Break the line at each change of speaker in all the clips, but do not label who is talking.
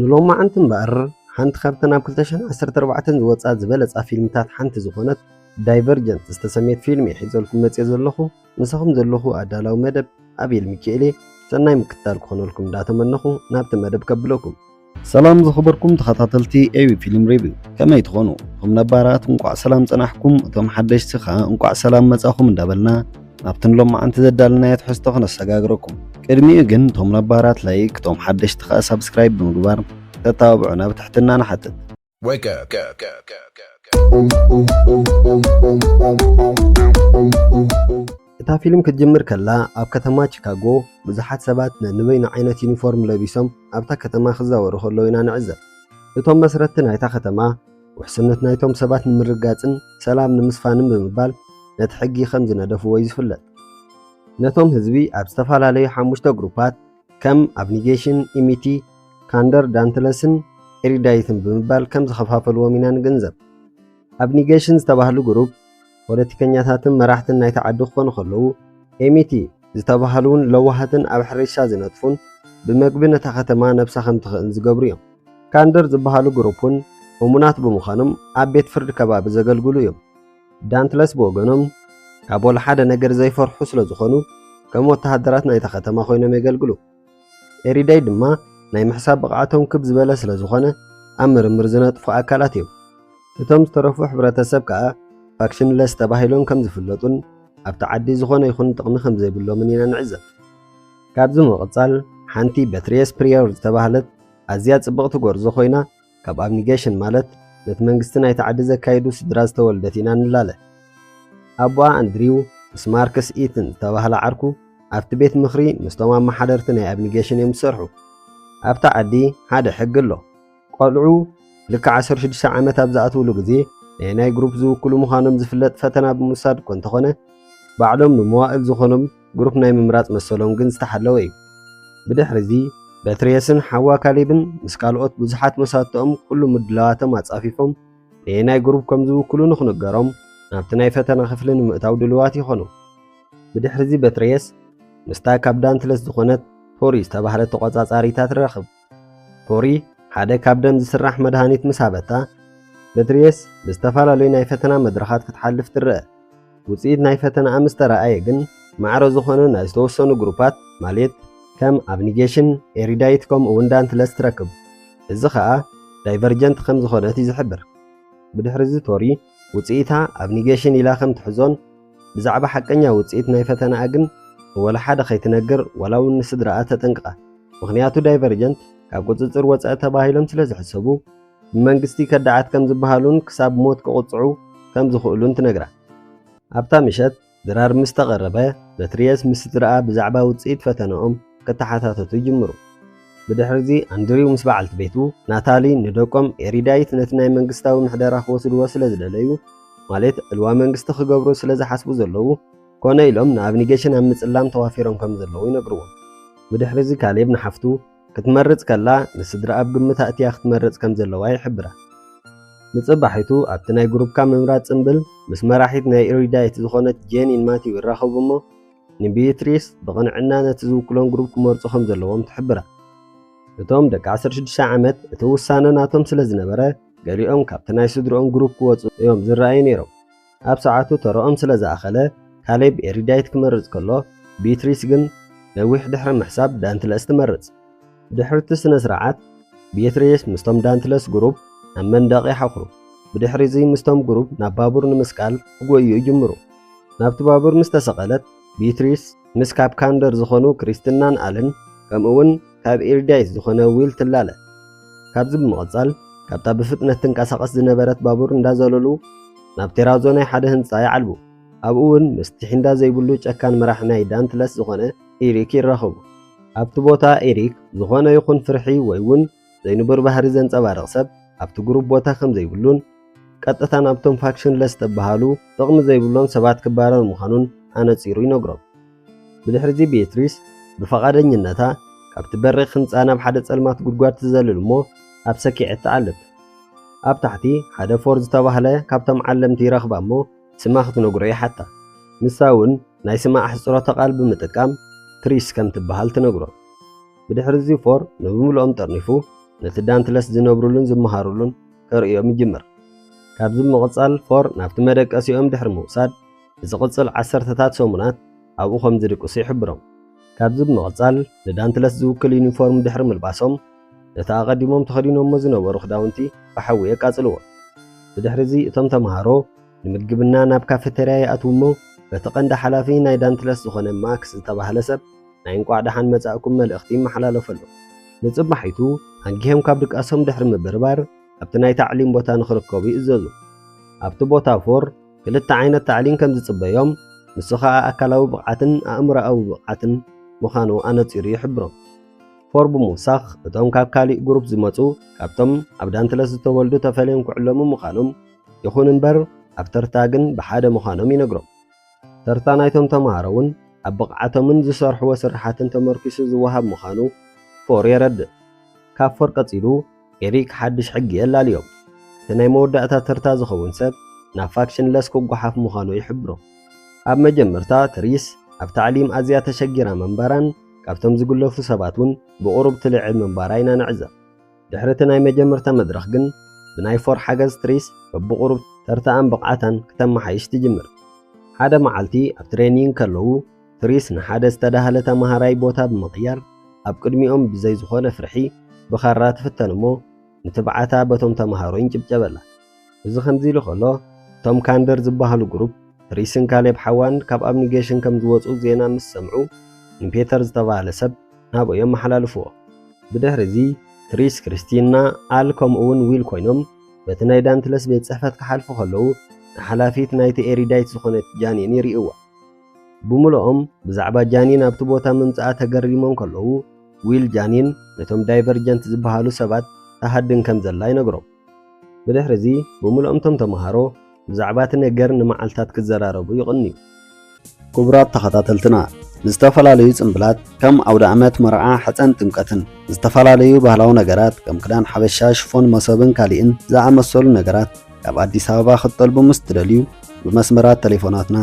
ንሎማዓንቲ እምበኣር ሓንቲ ካብተን ኣብ ክልተ ሽሕን ዓሰርተ ኣርባዕተን ዝወጻ ዝበለጻ ፊልምታት ሓንቲ ዝኾነት ዳይቨርጀንት ዝተሰምየት ፊልም እየ ሒዘልኩም መጽየ ዘለኹ። ምሳኹም ዘለኹ ኣዳላዊ መደብ ኣቤል ሚኪኤል እየ። ሰናይ ምክትታል ክኾነልኩም እንዳተመነኹ ናብቲ መደብ ከብለኩም። ሰላም ዝኸበርኩም ተኸታተልቲ ኤቢ ፊልም ሪቪው ከመይ ትኾኑ? እቶም ነባራት እንቋዕ ሰላም ጸናሕኩም፣ እቶም ሓደሽቲ ከኣ እንቋዕ ሰላም መጻኹም እንዳበልና ናብቲ ንሎማዓንቲ ዘዳልናዮ ትሕዝቶ ክነሰጋግረኩም ቅድሚኡ ግን እቶም ነባራት ላይክ እቶም ሓደሽቲ ከኣ ሳብስክራይብ ብምግባር ክተተባብዑና ብትሕትና ንሓትት። Wake up. Go, go, go, go, go. እታ ፊልም ክትጅምር ከላ ኣብ ከተማ ቺካጎ ብዙሓት ሰባት ነንበይኑ ዓይነት ዩኒፎርም ለቢሶም ኣብታ ከተማ ክዛወሩ ከለዉ ኢና ንዕዘብ። እቶም መስረትቲ ናይታ ከተማ ውሕስነት ናይቶም ሰባት ንምርግጋጽን ሰላም ንምስፋንን ብምባል ነቲ ሕጊ ከም ዝነደፍዎ እዩ ዝፍለጥ። ነቶም ህዝቢ ኣብ ዝተፈላለዩ ሓሙሽተ ግሩፓት ከም ኣብኒጌሽን፣ ኢሚቲ፣ ካንደር፣ ዳንትለስን ኤሪዳይትን ብምባል ከም ዝኸፋፈልዎም ኢና ንግንዘብ። ኣብኒጌሽን ዝተባህሉ ግሩፕ ፖለቲከኛታትን መራሕትን ናይቲ ዓዲ ክኾኑ ከለዉ፣ ኤሚቲ ዝተባህሉ'ውን ለዋሃትን ኣብ ሕርሻ ዝነጥፉን ብመግቢ ነታ ከተማ ነብሳ ከም ትኽእን ዝገብሩ እዮም። ካንደር ዝበሃሉ ግሩፕ'ውን እሙናት ብምዃኖም ኣብ ቤት ፍርዲ ከባቢ ዘገልግሉ እዮም። ዳንትለስ ብወገኖም ካብ ወላሓደ ነገር ዘይፈርሑ ስለ ዝኾኑ ከም ወተሃደራት ናይታ ከተማ ኮይኖም የገልግሉ። ኤሪዳይ ድማ ናይ ምሕሳብ ብቕዓቶም ክብ ዝበለ ስለ ዝኾነ ኣብ ምርምር ዝነጥፉ ኣካላት እዮም። እቶም ዝተረፉ ሕብረተሰብ ከኣ ፋክሽንለስ ተባሂሎም ከም ዝፍለጡን ኣብቲ ዓዲ ዝኾነ ይኹን ጥቕሚ ከም ዘይብሎምን ኢና ንዕዘብ። ካብዚ ምቕጻል ሓንቲ በትሪየስ ፕሪዮር ዝተባህለት ኣዝያ ጽብቕቲ ጎርዞ ኮይና ካብ ኣብኒገሽን ማለት ነቲ መንግስቲ ናይቲ ዓዲ ዘካይዱ ስድራ ዝተወልደት ኢና ንላለ። ኣቦኣ ኣንድሪው ምስ ማርክስ ኢትን ዝተባህለ ዓርኩ ኣብቲ ቤት ምኽሪ ምስቶም ኣመሓደርቲ ናይ ኣብኒገሽን እዮም ዝሰርሑ። ኣብታ ዓዲ ሓደ ሕጊ ኣሎ። ቆልዑ ልክዕ ዓሰርተ ሽዱሽተ ዓመት ኣብ ዝኣትውሉ ግዜ ናይ ናይ ግሩፕ ዝውክሉ ምዃኖም ዝፍለጥ ፈተና ብምውሳድ እኮ እንተኾነ ባዕሎም ንመዋእል ዝኾኖም ግሩፕ ናይ ምምራጽ መሰሎም ግን ዝተሓለወ እዩ። ብድሕሪዚ፣ በትርየስን ሓዋ ካሌብን ምስ ካልኦት ብዙሓት መሳትኦም ኩሉ ምድላዋቶም ኣጻፊፎም ነየናይ ግሩፕ ከም ዝውክሉ ንኽንገሮም ናብቲ ናይ ፈተና ክፍሊ ንምእታው ድሉዋት ይኾኑ። ብድሕሪዚ በትርየስ ምስታ ካብ ዳንትለስ ዝኾነት ቶሪ ዝተባህለት ተቖጻጻሪታ ትራኽብ። ፖሪ ሓደ ካብ ደም ዝስራሕ መድሃኒት ምስ ሃበታ፣ በትሪየስ ብዝተፈላለዩ ናይ ፈተና መድረኻት ክትሓልፍ ትረኣ። ውጽኢት ናይ ፈተናኣ ምስ ተራኣየ ግን፣ ማዕረ ዝኾነ ናይ ዝተወሰኑ ግሩፓት ማልት ከም ኣብኒጌሽን፣ ኤሪዳይት ከምኡ'ውን ዳንትለስ ትረክብ። እዚ ከኣ ዳይቨርጀንት ከም ዝኾነት እዩ ዝሕብር። ብድሕሪ'ዚ ቶሪ ውጽኢታ ኣብ ኒጌሽን ኢላ ከም ትሕዞን ብዛዕባ ሓቀኛ ውጽኢት ናይ ፈተናኣ ግን ንወላ ሓደ ከይትነግር ዋላ ውን ንስድራኣ ተጠንቅቃ ምኽንያቱ ዳይቨርጀንት ካብ ቁጽጽር ወጸኢ ተባሂሎም ስለ ዝሕሰቡ ብመንግስቲ ከዳዓት ከም ዝበሃሉን ክሳብ ሞት ክቕጽዑ ከም ዝኽእሉን ትነግራ። ኣብታ ምሸት ድራር ምስ ተቐረበ፣ በትሪየስ ምስ ስድራኣ ብዛዕባ ውጽኢት ፈተነኦም ከተሓታተቱ ይጅምሩ። ብድሕሪ'ዚ ኣንድሪው ምስ በዓልቲ ቤቱ ናታሊ ንደቆም ኤሪዳይት ነቲ ናይ መንግስታዊ ምሕደራ ክወስድዎ ስለ ዝደለዩ፣ ማለት ዕልዋ መንግስቲ ክገብሩ ስለ ዝሓስቡ ዘለዉ፣ ኮነ ኢሎም ንኣብኒጌሽን ኣብ ምጽላም ተዋፊሮም ከም ዘለዉ ይነግርዎም። ብድሕሪ'ዚ ካሌብ ንሓፍቱ፣ ክትመርጽ ከላ ንስድራ ኣብ ግምት ኣእትያ ክትመርጽ ከም ዘለዋ ይሕብራ። ንጽባሒቱ ኣብቲ ናይ ግሩፕካ ምምራጽ ጽምብል ምስ መራሒት ናይ ኢሪዳይት ዝኾነት ጄኒን ማቲው ይራኸቡ እሞ ንቢይትሪስ ብቕንዕና ነቲ ዝውክሎም ግሩፕ ክመርጹ ከም ዘለዎም ትሕብራ። እቶም ደቂ ዓሰርተ ሽዱሽተ ዓመት እቲ ውሳነ ናቶም ስለ ዝነበረ ገሊኦም ካብቲ ናይ ስድርኦም ግሩፕ ክወጹ እዮም ዝረኣዩ ነይሮም። ኣብ ሰዓቱ ተራኦም ስለ ዝኣኸለ ካሌብ ኤሪዳይት ክመርጽ ከሎ፣ ቢትሪስ ግን ነዊሕ ድሕሪ ምሕሳብ ዳንትለስ ትመርጽ። ብድሕሪ'ቲ ስነ-ስርዓት፣ ቢትሪስ ምስቶም ዳንትለስ ግሩብ ናብ መንደቕ ይሓኹሩ። ብድሕሪ'ዚ ምስቶም ግሩብ ናብ ባቡር ንምስቃል ክጎዩ ይጅምሩ። ናብቲ ባቡር ምስ ተሰቐለት፣ ቢትሪስ ምስ ካፕካንደር ዝኾኑ ክሪስትናን ኣልን ከምኡ'ውን ካብ ኤርዳይስ ዝኾነ ዊል ትላለ። ካብዚ ብምቕጻል ካብታ ብፍጥነት ትንቀሳቐስ ዝነበረት ባቡር እንዳዘለሉ ናብ ቴራዞ ናይ ሓደ ህንጻ ይዓልቡ። ኣብኡ እውን ምስ ቲሒንዳ ዘይብሉ ጨካን መራሒ ናይ ዳንትለስ ዝኾነ ኤሪክ ይራኸቡ። ኣብቲ ቦታ ኤሪክ ዝኾነ ይኹን ፍርሒ ወይ እውን ዘይንቡር ባህሪ ዘንጸባርቕ ሰብ ኣብቲ ግሩፕ ቦታ ከም ዘይብሉን ቀጥታ ናብቶም ፋክሽንለስ ዝተበሃሉ ጥቕሚ ዘይብሎም ሰባት ክባረር ምዃኑን ኣነጺሩ ይነግሮም። ብድሕርዚ ቤትሪስ ብፍቓደኝነታ ካብቲ በሪኽ ህንጻ ናብ ሓደ ጸልማት ጉድጓድ ትዘልል እሞ ኣብ ሰኪዔት ትዓልብ። ኣብ ታሕቲ ሓደ ፎር ዝተባህለ ካብቶም ዓለምቲ ይረኽባ እሞ ስማ ክትነግሮ ይሓታ። ንሳ እውን ናይ ስማ ኣሕጽሮተ ቃል ብምጥቃም ትሪስ ከም ትበሃል ትነግሮ። ብድሕርዚ ፎር ንብምልኦም ጠርኒፉ ነቲ ዳንትለስ ዝነብሩሉን ዝመሃሩሉን ከርእዮም ይጅምር። ካብዚ ብምቕጻል ፎር ናብቲ መደቀሲኦም ድሕሪ ምውሳድ ንዝቕጽል ዓሰርተታት ሰሙናት ኣብኡ ከም ዝድቅሱ ይሕብሮም። ካብዚ ብምቕጻል ንዳንትለስ ዝውክል ዩኒፎርም ድሕሪ ምልባሶም፣ ነቲ ኣቐዲሞም ተኸዲኖሞ ዝነበሩ ክዳውንቲ ብሓዊ የቃጽልዎ። ብድሕሪዚ እቶም ተመሃሮ ንምግብና ናብ ካፈተርያ ይኣትዉ እሞ በቲ ቀንዲ ሓላፊ ናይ ዳንትለስ ዝኾነ ማክስ ዝተባህለ ሰብ ናይ እንቋዕ ደሓን መጻእኩም መልእኽቲ ይመሓላለፈሎም። ንጽባሒቱ ኣንጊሆም ካብ ድቃሶም ድሕሪ ምብርባር ኣብቲ ናይ ታዕሊም ቦታ ንኽርከቡ ይእዘዙ። ኣብቲ ቦታ ፎር፣ ክልተ ዓይነት ታዕሊም ከም ዝጽበዮም፣ ንሱ ኸኣ ኣካላዊ ብቕዓትን ኣእምሮኣዊ ብቕዓትን ምዃኑ ኣነጺሩ ይሕብሮም። ፎርብ ምውሳኽ፣ እቶም ካብ ካልእ ግሩፕ ዝመጹ ካብቶም ኣብ ዳንትለስ ዝተወልዱ ተፈልዮም ክዕለሙ ምዃኖም፣ ይኹን እምበር ኣብ ተርታ ግን ብሓደ ምዃኖም ይነግሮም። ተርታ ናይቶም ተመሃሮ'ውን ኣብ ብቕዓቶምን ዝሰርሕዎ ስርሓትን ተመርኲሱ ዝወሃብ ምዃኑ ፎር የረድእ። ካብ ፎር ቀጺሉ ኤሪክ ሓድሽ ሕጊ የላልዮ። እቲ ናይ መወዳእታ ተርታ ዝኸውን ሰብ ናብ ፋክሽን ለስ ክጓሓፍ ምዃኑ ይሕብሮ። ኣብ መጀመርታ ትሪስ ኣብ ታዕሊም ኣዝያ ተሸጊራ ምንባራን ካብቶም ዝግለፉ ሰባት እውን ብቑሩብ ትልዕል ምንባራ ኢና ንዕዘብ። ድሕሪ እቲ ናይ መጀመርታ መድረኽ ግን ብናይ ፎር ሓገዝ ትሪስ በብቑሩብ ተርታኣን ብቕዓታን ክተመሓይሽ ትጅምር። ሓደ መዓልቲ ኣብ ትሬኒንግ ከለዉ ትሪስ ንሓደ ዝተዳህለ ተማሃራይ ቦታ ብምቕያር ኣብ ቅድሚኦም ብዘይ ዝኾነ ፍርሒ ብኻራ ትፍተን እሞ ንትብዓታ በቶም ተማሃሮ ይንጭብጨበላ። እዚ ከምዚ ኢሉ ከሎ እቶም ካንደር ዝበሃሉ ግሩፕ ትሪስን ካሌብ ሓዋን ካብ ኣብኒጌሽን ከም ዝወጹ ዜና ምስ ሰምዑ ንፔተር ዝተባህለ ሰብ ናብኦ የመሓላልፍዎ። ብድሕሪ እዚ ትሪስ፣ ክሪስቲና፣ ኣል ከምኡ እውን ዊል ኮይኖም በቲ ናይ ዳንትለስ ቤት ጽሕፈት ክሓልፉ ከለዉ ንሓላፊት ናይቲ ኤሪዳይት ዝኾነት ጃኒን ይርእይዋ። ብምሉኦም ብዛዕባ ጃኒን ኣብቲ ቦታ ምምጽኣ ተገሪሞም ከለዉ፣ ዊል ጃኒን ነቶም ዳይቨርጀንት ዝበሃሉ ሰባት ትሃድን ከም ዘላ ይነግሮም። ብድሕርዚ ብምሉኦም እቶም ተመሃሮ ብዛዕባ እቲ ነገር ንመዓልታት ክዘራረቡ ይቕንዩ። ክቡራት ተኸታተልትና፣ ንዝተፈላለዩ ጽምብላት ከም ኣውደኣመት፣ መርዓ፣ ሕጸን ጥምቀትን፣ ንዝተፈላለዩ ባህላዊ ነገራት ከም ክዳን ሓበሻ፣ ሽፎን፣ መሶብን ካልእን ዝኣመሰሉ ነገራት፣ ካብ ኣዲስ ኣበባ ክትጠልቡ ምስ ትደልዩ ብመስመራት ተሌፎናትና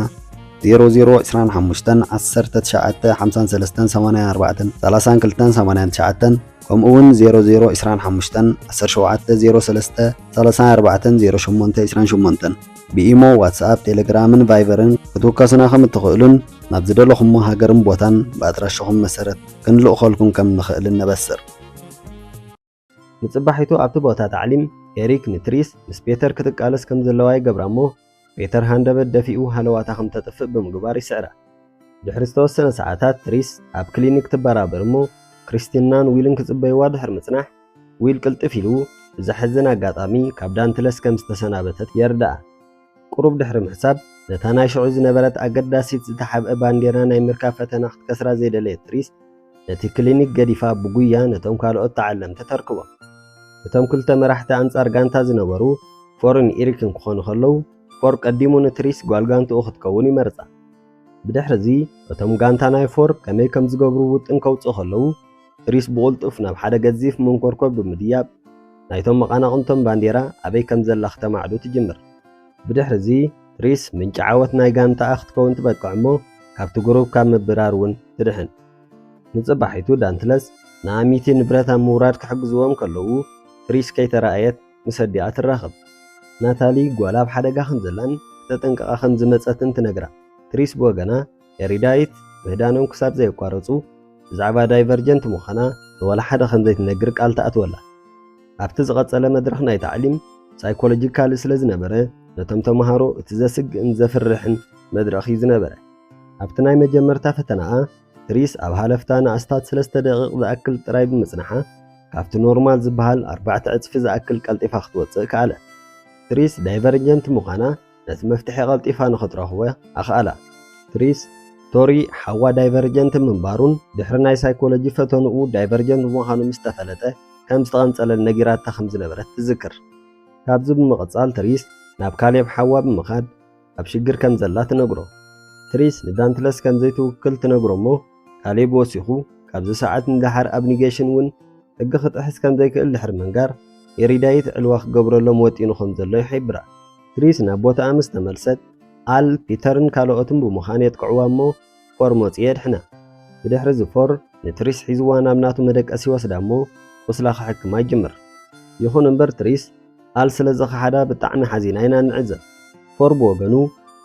00251953843289 ከምኡውን 00251703304828 ብኢሞ ዋትስኣፕ ቴሌግራምን ቫይበርን ክትውከሱና ከም እትኽእሉን ናብ ዝደለኹሞ ሃገርን ቦታን ብኣድራሻኹም መሰረት ክንልእኸልኩም ከም ንኽእልን ነበስር ንጽባሒቱ ኣብቲ ቦታ ታዕሊም፣ ኤሪክ ንትሪስ ምስ ፔተር ክትቃለስ ከም ዘለዋ ይገብራ እሞ፣ ፔተር ሃንደበት ደፊኡ ሃለዋታ ከም እተጥፍእ ብምግባር ይስዕራ። ድሕሪ ዝተወሰነ ሰዓታት ትሪስ ኣብ ክሊኒክ ትበራበር እሞ፣ ክሪስቲናን ዊልን ክጽበይዋ ድሕሪ ምጽናሕ፣ ዊል ቅልጥፍ ኢሉ ብዘሕዝን ኣጋጣሚ ካብ ዳንትለስ ከም ዝተሰናበተት የርድኣ። ቁሩብ ድሕሪ ምሕሳብ፣ ነታ ናይ ሽዑ ዝነበረት ኣገዳሲት ዝተሓብኤ ባንዴራ ናይ ምርካብ ፈተና ክትከስራ ዘይደለየት ሪስ፣ ነቲ ክሊኒክ ገዲፋ ብጉያ ነቶም ካልኦት ተዓለምቲ ተርክቦም። እቶም ክልተ መራሕቲ ኣንጻር ጋንታ ዝነበሩ ፎርን ኢሪክን ክኾኑ ከለዉ፣ ፎር ቀዲሙ ንትሪስ ጓል ጋንትኡ ክትከውን ይመርጻ። ብድሕርዚ፣ እቶም ጋንታ ናይ ፎር ከመይ ከም ዝገብሩ ውጥን ከውጽኡ ከለዉ፣ ሪስ ብቕልጡፍ ናብ ሓደ ገዚፍ መንኮርኮር ብምድያብ፣ ናይቶም መቓናቕንቶም ባንዴራ ኣበይ ከም ዘላ ክተማዕዱ ትጅምር። ብድሕርዚ፣ ሪስ ምንጪ ዓወት ናይ ጋንታኣ ክትከውን ትበቅዕ'ሞ ካብቲ ጉሩብ ካብ ምብራር'ውን ትድሕን። ንጽባሒቱ ዳንትለስ ንኣሚቲ ንብረት ኣብ ምውራድ ክሕግዝዎም ከለዉ፣ ሪስ ከይተራእየት ምስ ኣዲኣ ትራኸብ። ናታሊ ጓላ ኣብ ሓደጋ ከም ዘላን ክተጠንቅቓ ከም ዝመጸትን ትነግራ። ሪስ ብወገና፣ ኤሪዳይት ምህዳኖም ክሳብ ዘየቋረጹ ብዛዕባ ዳይቨርጀንት ምዃና ንዋላ ሓደ ከም ዘይትነግር ቃል ትኣትወላ። ኣብቲ ዝቐጸለ መድረኽ ናይ ታዕሊም፣ ሳይኮሎጂካሊ ስለ ዝነበረ ነቶም ተመሃሮ እቲ ዘስግእን ዘፍርሕን መድረኽ'ዩ ዝነበረ። ኣብቲ ናይ መጀመርታ ፈተናኣ ትሪስ ኣብ ሃለፍታ ንኣስታት ስለስተ ደቒቕ ዝኣክል ጥራይ ብምጽናሓ ካብቲ ኖርማል ዝበሃል ኣርባዕተ ዕጽፊ ዝኣክል ቀልጢፋ ክትወጽእ ከኣለት። ትሪስ ዳይቨርጀንት ምዃና ነቲ መፍትሒ ቐልጢፋ ንኽትረኽቦ ኣኽኣላ። ትሪስ፣ ቶሪ ሓዋ ዳይቨርጀንት ምንባሩን ድሕሪ ናይ ሳይኮሎጂ ፈተንኡ ዳይቨርጀንት ምዃኑ ምስ ተፈለጠ ከም ዝተቐንጸለን ነጊራታ ከም ዝነበረት ትዝክር። ካብዚ ብምቕጻል ትሪስ ናብ ካሌብ ሓዋ ብምኻድ ኣብ ሽግር ከም ዘላ ትነግሮ። ትሪስ ንዳንትለስ ከም ዘይትውክል ትነግሮ እሞ ካሌብ ወሲኹ፣ ካብዚ ሰዓት ንደሓር ኣብ ኒገሽን እውን ሕጊ ክጥሕስ ከም ዘይክእል ድሕሪ ምንጋር፣ ኤሪዳይት ዕልዋ ክገብረሎም ወጢኑ ከም ዘሎ ይሒብራ። ትሪስ ናብ ቦታኣ ምስ ተመልሰት፣ ኣል፣ ፒተርን ካልኦትን ብምዃን የጥቅዕዋ እሞ ፎር መጺኡ የድሕና። ብድሕሪዚ ፎር ንትሪስ ሒዝዋ ናብ ናቱ መደቀሲ ይወስዳ እሞ ቁስላ ክሕክማ ይጅምር። ይኹን እምበር ትሪስ፣ ኣል ስለ ዝኸሓዳ ብጣዕሚ ሓዚና ኢና እንዕዘብ። ፎር ብወገኑ፣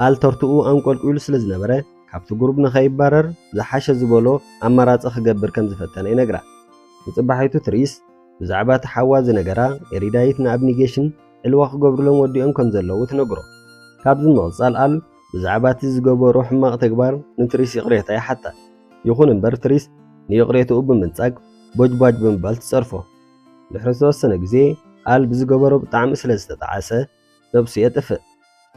ኣል ተርትኡ ኣንቆልቊሉ ስለ ዝነበረ፣ ካብቲ ጉሩብ ንኸይባረር ዝሓሸ ዝበሎ ኣማራጺ ክገብር ከም ዝፈተነ ይነግራ። ንጽባሒቱ ትሪስ ብዛዕባ እቲ ሓዋ ዝነገራ ኤሪዳይት ንኣብኒጌሽን ዕልዋ ክገብሩሎም ወዲኦም ከም ዘለዉ ትነግሮ። ካብዚ ብምቕጻል ኣል ብዛዕባ እቲ ዝገበሮ ሕማቕ ተግባር ንትሪስ ይቕሬታ ይሓታ። ይኹን እምበር ትሪስ ንይቕሬትኡ ብምንጻግ ቦጅቧጅ ብምባል ትጸርፎ። ድሕሪ ዝተወሰነ ግዜ ኣል ብዝገበሮ ብጣዕሚ ስለ ዝተጠዓሰ ነብሱ የጥፍእ።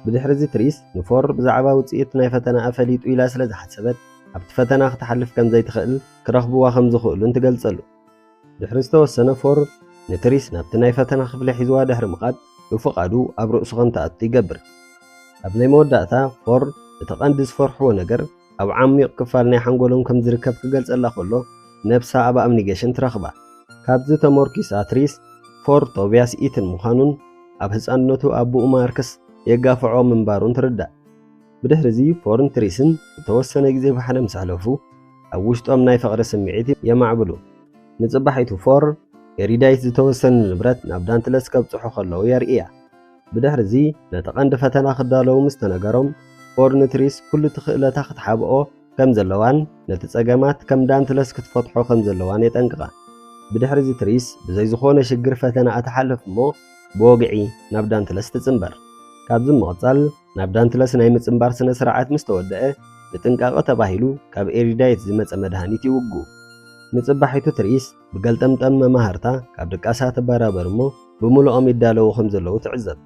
ብድሕሪ'ዚ ትሪስ ንፎር ብዛዕባ ውጽኢት ናይ ፈተናኣ ፈሊጡ ኢላ ስለ ዝሓሰበት፣ ኣብቲ ፈተና ክትሓልፍ ከም ዘይትኽእል ክረኽብዋ ከም ዝኽእሉን ትገልጸሉ። ድሕሪ ዝተወሰነ ፎር ንትሪስ ናብቲ ናይ ፈተና ክፍሊ ሒዝዋ ድሕሪ ምኻድ ብፍቓዱ ኣብ ርእሱ ከም ትኣቱ ይገብር። ኣብ ናይ መወዳእታ ፎር እቲ ቀንዲ ዝፈርሕዎ ነገር ኣብ ዓሚቕ ክፋል ናይ ሓንጎሎም ከም ዝርከብ ክገልጸላ ከሎ ነብሳ ኣብ ኣምኒገሽን ትረኽባ። ካብዚ ተሞርኪሳ ትሪስ ፎር ቶብያስ ኢትን ምዃኑን ኣብ ህጻንነቱ ኣቡኡ ማርክስ የጋፍዖ ምንባሩን ትርዳእ። ብድሕሪዚ ፎርን ትሪስን ዝተወሰነ ግዜ ብሓደ ምስ ኣሕለፉ ኣብ ውሽጦም ናይ ፍቕሪ ስምዒት የማዕብሉ። ንጽባሒቱ ፎር ኤሪዳይት ዝተወሰነ ንብረት ናብ ዳንትለስ ከብጽሑ ከለዉ የርእያ። ብድሕርዚ ነቲ ቀንዲ ፈተና ክዳለዉ ምስ ተነገሮም፣ ፎርን ትሪስ ኩሉ እቲ ክእለታ ክትሓብኦ ከም ዘለዋን ነቲ ጸገማት ከም ዳንትለስ ክትፈትሖ ከም ዘለዋን የጠንቅቓ። ብድሕርዚ ትሪስ ብዘይ ዝኾነ ሽግር ፈተናኣ ትሓልፍ እሞ ብወግዒ ናብ ዳንትለስ ትጽንበር። ካብዚ ብምቕጻል ናብ ዳንትለስ ናይ ምጽንባር ስነ-ስርዓት ምስ ተወደኣ፣ ንጥንቃቐ ተባሂሉ ካብ ኤሪዳይት ዝመጸ መድሃኒት ይውግኡ። ንጽባሒቱ ትሪስ ብገልጠምጠም መማህርታ ካብ ድቃሳ ትበራበር እሞ ብምሉኦም ይዳለዉ ከም ዘለዉ ትዕዘብ።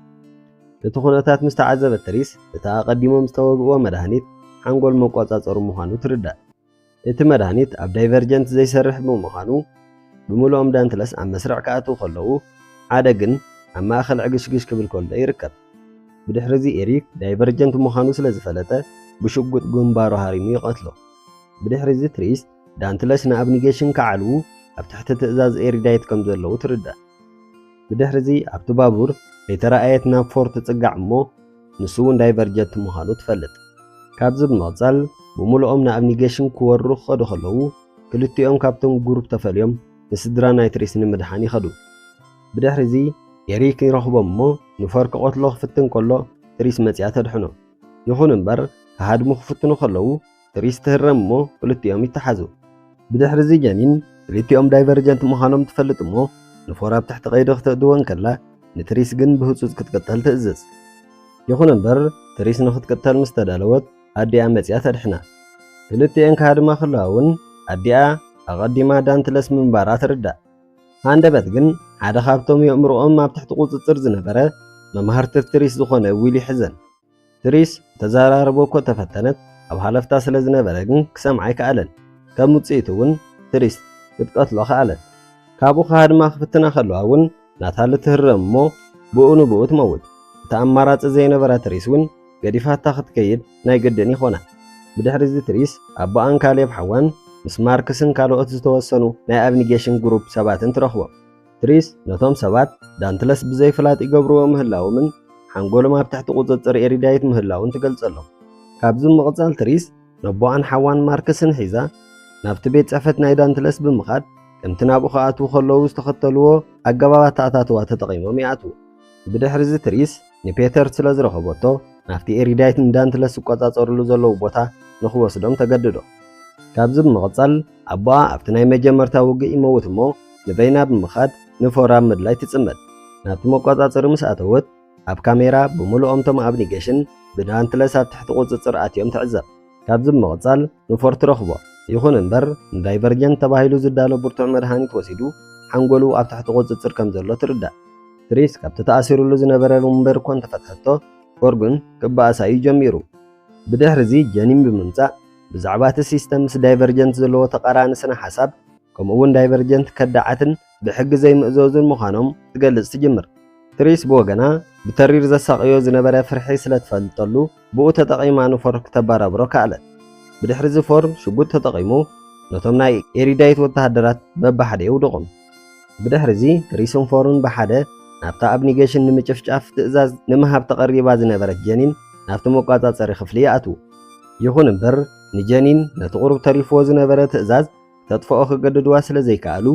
እቲ ኩነታት ምስ ተዓዘበት ተሪስ እቲ ኣቐዲሞም ዝተወግእዎ መድሃኒት ሓንጎል መቆጻጸሩ ምዃኑ ትርዳእ። እቲ መድሃኒት ኣብ ዳይቨርጀንት ዘይሰርሕ ብምዃኑ ብምሉኦም ዳንትለስ ኣብ መስርዕ ክኣትዉ ከለዉ ሓደ ግን ኣብ ማእከል ዕግሽግሽ ክብል ከሎ ይርከብ። ብድሕሪዚ ኤሪክ ዳይቨርጀንት ምዃኑ ስለ ዝፈለጠ ብሽጉጥ ግንባሩ ሃሪሙ ይቐትሎ። ብድሕሪዚ ትሪስ ዳንትለስ ንኣብኒጌሽን ክዓልዉ ኣብ ትሕቲ ትእዛዝ ኤሪዳይት ከም ዘለዉ ትርዳእ። ብድሕሪዚ ኣብቲ ባቡር ከይተራእየት ናብ ፎር ትጽጋዕ እሞ ንሱ'ውን ዳይቨርጀት ምዃኑ ትፈልጥ። ካብዚ ብምቕጻል ብምሉኦም ንኣብኒጌሽን ክወሩ ክኸዱ ከለዉ ክልቲኦም ካብቶም ጉሩፕ ተፈልዮም ንስድራ ናይትሪስ ንምድሓን ይኸዱ። ብድሕሪዚ ኤሪክ ይረኽቦም እሞ ንፎር ክቐትሎ ክፍትን ከሎ ትሪስ መጺኣ ተድሕኖ። ይኹን እምበር ክሃድሙ ክፍትኑ ከለዉ ትሪስ ትህረም እሞ ክልቲኦም ይተሓዙ። ብድሕሪ እዚ ጀኒን ክልቲኦም ዳይቨርጀንት ምዃኖም ትፈልጥ እሞ ንፎር ኣብ ትሕቲ ቀይዲ ክተእትዎ እንከላ ንትሪስ ግን ብህጹጽ ክትቅተል ትእዝዝ። ይኹን እምበር ትሪስ ንኽትቅተል ምስ ተዳለወት ኣዲኣ መጺኣ ተድሕና። ክልቲኤን ክሃድማ ከለዋ እውን ኣዲኣ ኣቐዲማ ዳንትለስ ምንባራ ትርዳእ። ሃንደበት ግን ሓደ ካብቶም የእምሮኦም ኣብ ትሕቲ ቁጽጽር ዝነበረ መማህርትር ትሪስ ዝኾነ ዊል ይሕዘን። ትሪስ ክተዘራርቦ እኮ ተፈተነት፣ ኣብ ሃለፍታ ስለ ዝነበረ ግን ክሰምዓ ኣይከኣለን። ከም ውጽኢቱ እውን ትሪስ ክትቀትሎ ከኣለት። ካብኡ ክሃድማ ክፍትና ከለዋ እውን ናታሊ ትህረም እሞ ብኡ ንብኡ ትመውት። እቲ ኣማራጺ ዘይነበራ ትሪስ እውን ገዲፋታ ክትከይድ ናይ ግድን ይኾና። ብድሕሪዚ ትሪስ ኣቦኣን ካሌብ ሓዋን ምስ ማርክስን ካልኦት ዝተወሰኑ ናይ ኣብኒጌሽን ግሩፕ ሰባትን ትረኽቦም። ትሪስ ነቶም ሰባት ዳንትለስ ብዘይፍላጥ ይገብርዎ ምህላዎምን ሓንጎሎም ኣብ ትሕቲ ቁጽጽር ኤሪዳይት ምህላዉን ትገልጸሎም። ካብዚ ብምቕጻል ትሪስ ነቦኣን ሓዋን ማርክስን ሒዛ ናብቲ ቤት ጽሕፈት ናይ ዳንትለስ ብምኻድ ከምቲ ናብኡ ክኣትዉ ከለዉ ዝተኸተልዎ ኣገባብ ኣተኣታትዋ ተጠቒሞም ይኣትዉ። ብድሕሪዚ ትሪስ፣ ንፔተር ስለ ዝረኸበቶ ናብቲ ኤሪዳይት ንዳንትለስ ዝቈጻጸርሉ ዘለዉ ቦታ ንኽወስዶም ተገድዶ። ካብዚ ብምቕጻል ኣቦኣ ኣብቲ ናይ መጀመርታ ውግእ ይመውት እሞ ንበይና ብምኻድ ንፎራም ምድላይ ትጽመድ። ናብቲ መቈጻጸሪ ምስ ኣተወት ኣብ ካሜራ ብምሉኦም እቶም ኣብኒገሽን ብዳንትለስ ኣብ ትሕቲ ቁጽጽር ኣትዮም ትዕዘብ። ካብዚ ብምቕጻል ንፎር ትረኽቦ። ይኹን እምበር ንዳይቨርጀንት ተባሂሉ ዝዳሎ ብርቱዕ መድሃኒት ወሲዱ ሓንጎሉ ኣብ ትሕቲ ቁጽጽር ከም ዘሎ ትርዳእ። ትሪስ ካብቲ ተኣሲሩሉ ዝነበረ ወንበር እኳ እንተፈትሐቶ ፎርጉን ክበኣሳ እዩ ጀሚሩ። ብድሕሪ እዚ ጀኒን ብምምጻእ ብዛዕባ እቲ ሲስተም ምስ ዳይቨርጀንት ዘለዎ ተቓራኒ ስነ ሓሳብ ከምኡ'ውን ዳይቨርጀንት ከዳዓትን ብሕጊ ዘይምእዘዙን ምዃኖም ትገልጽ ትጅምር። ትሪስ ብወገና ብተሪር ዘሳቕዮ ዝነበረ ፍርሒ ስለ ትፈልጠሉ ብኡ ተጠቒማ ንፎር ክተበራብሮ ከኣለት። ብድሕሪ እዚ ፎር ሽጉጥ ተጠቒሙ ነቶም ናይ ኤሪዳይት ወተሃደራት በብሓደ የውድቖም። ብድሕሪዚ ሪስን ፎርን ብሓደ ናብታ ኣብ ኒገሽን ንምጭፍጫፍ ትእዛዝ ንምሃብ ተቐሪባ ዝነበረት ጀኒን ናብቲ መቋጻጸሪ ክፍሊ ይኣትዉ። ይኹን እምበር ንጀኒን ነቲ ቁሩብ ተሪፍዎ ዝነበረ ትእዛዝ ክተጥፍኦ ክገድድዋ ስለ ዘይከኣሉ፣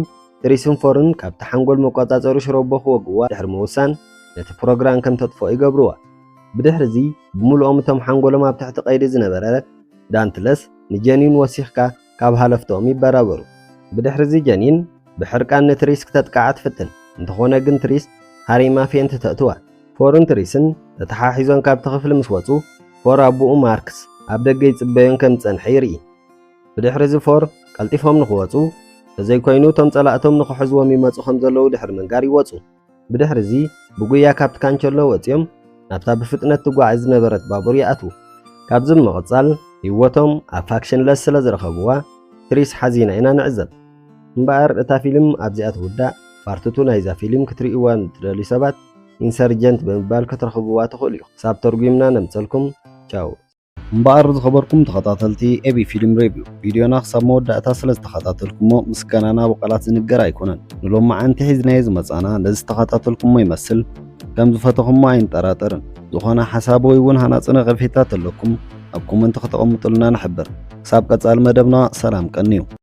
ሪስን ፎርን ካብቲ ሓንጎል መቋጻጸሪ ሽሮቦ ክወግእዋ ድሕሪ ምውሳን ነቲ ፕሮግራን ከም ተጥፍኦ ይገብርዋ። ብድሕሪዚ ብምሉኦም እቶም ሓንጎሎም ኣብ ትሕቲ ቀይዲ ዝነበረ ዳንትለስ ንጀኒን ወሲኽካ ካብ ሃለፍቶም ይበራበሩ። ብድሕሪዚ ጀኒን ብሕርቃን ንትሪስ ክተጥቅዓ ትፍትን፣ እንተኾነ ግን ትሪስ ሃሪማ ፌንት ተእትዋ። ፎርን ትሪስን ተተሓሒዞን ካብቲ ክፍሊ ምስ ወጹ፣ ፎር ኣቡኡ ማርክስ ኣብ ደገ ይጽበዮን ከም ዝጸንሐ ይርኢ። ብድሕሪዚ ፎር ቀልጢፎም ንኽወጹ፣ እንተዘይኮይኑ እቶም ጸላእቶም ንኽሕዝዎም ይመጹ ከም ዘለዉ ድሕሪ ምንጋር ይወጹ። ብድሕርዚ ብጉያ ካብቲ ካንቸሎ ወጺኦም ናብታ ብፍጥነት ትጓዓዝ ዝነበረት ባቡር ይኣትዉ። ካብዚ ብምቕጻል ህይወቶም ኣብ ፋክሽንለስ ስለ ዝረኸብዋ ትሪስ ሓዚና ኢና ንዕዘብ። እምበኣር እታ ፊልም ኣብዚኣ ትውዳእ፣ ፓርት ቱ ናይዛ ፊልም ክትርእይዋ ንትደልዩ ሰባት ኢንሰርጀንት ብምባል ክትረኽብዋ ትኽእሉ ኢኹም። ክሳብ ተርጒምና ነምጸልኩም ቻው። እምበኣር ዝኸበርኩም ተኸታተልቲ ኤቢ ፊልም ሬቪው ቪድዮና ክሳብ መወዳእታ ስለ ዝተኸታተልኩሞ ምስጋናና ብቓላት ዝንገር ኣይኮነን። ንሎማዓንቲ ሒዝናዮ ዝመጻና ነዚ ዝተኸታተልኩሞ ይመስል ከም ዝፈተኹሞ ኣይንጠራጠርን። ዝኾነ ሓሳብ ወይ እውን ሃናጺ ነቐፌታ ተለኩም ኣብ ኮመንቲ ከተቐምጡልና ንሕብር። ክሳብ ቀጻሊ መደብና ሰላም ቀንዩ።